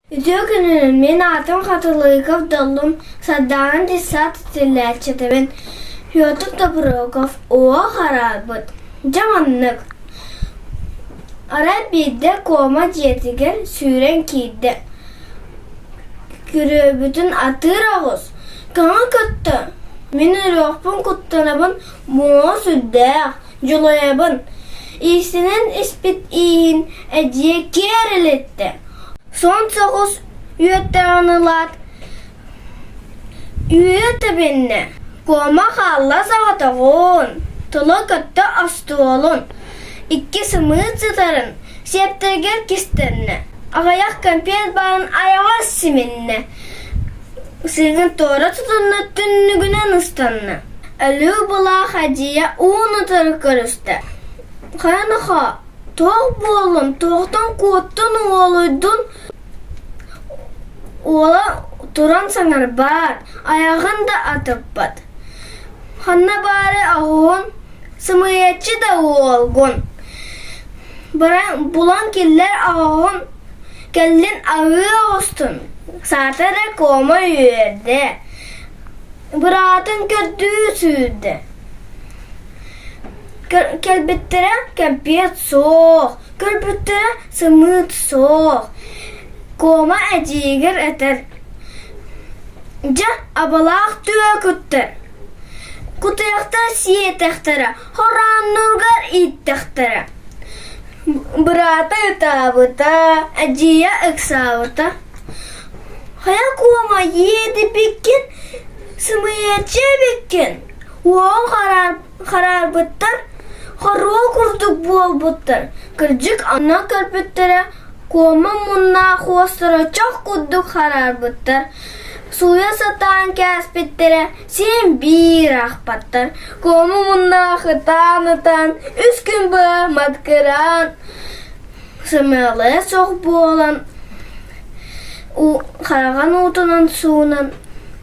Үтүө күнүнэн! Мин аатым Хатылыков Доллум, Сардаана Десант иитиллээччитэбин. Петр Доброков Уо хараабыт. Дьэ маннык. Арай биирдэ Кома дьиэтигэр сүүрэн киирдэ. Күрүөбүтүн атыыр аҕыс. Көҥө көттө. Мин ырыахпын куттанабын, муо сүрдээх, дьулайабын. Иисинэн испит ииһин эдьиийэ киэрилиттэ. Суон соҕус үөттэҕин ылаат, үүйэ тэбиннэ, куома хаалла соҕотоҕун, тула көттө остуолун, икки сымыыт сытарын сиэптэригэр кистэннэ, аҕыйах кэмпиэт баарын айаҕа симиннэ, сыыгын туора тутунна, түннүгүнэн ыстанна, өлүү былаах адьыйа уун утары көрүстэ, ханна-хоо тоох буоллун тоохтон куоттун уолуйдун уола туран саҥарбаат айаҕын да атыппат ханна баары аһыгын сымыйаччы да уолгун булан киллэр аҕаҕын кэлин аһыы оҕустун саата да кома үөрдэ быраатын көрдүү сүүрдэ Кэлбиттэрэ кэмпиэт суох, көрбүттэрэ сымыыт суох, Куома эдьиийигэр этэр: «Дьэ, абалаах түө куттар, кутуйахтар сиэтэхтэрэ, хорааннаргар ииттэхтэрэ, быраата ытаабыта, эдьиийэ ыксаабыта. Хайа, Куома, иэдипиккин, сымыйаччы эбиккин, Уол хараарбыттар, хоруол курдук буолбуттар. Кырдьык, ону көрбүттэрэ Куома муннаах уостара чох курдук хараарбыттар. Сууйа сатаан кээспиттэрэ син биир ахпаттар. Куома муннаах ытаан-ытаан үс күн быһа маткыраан сымыалая суох буолан хараҕын уутунан суунан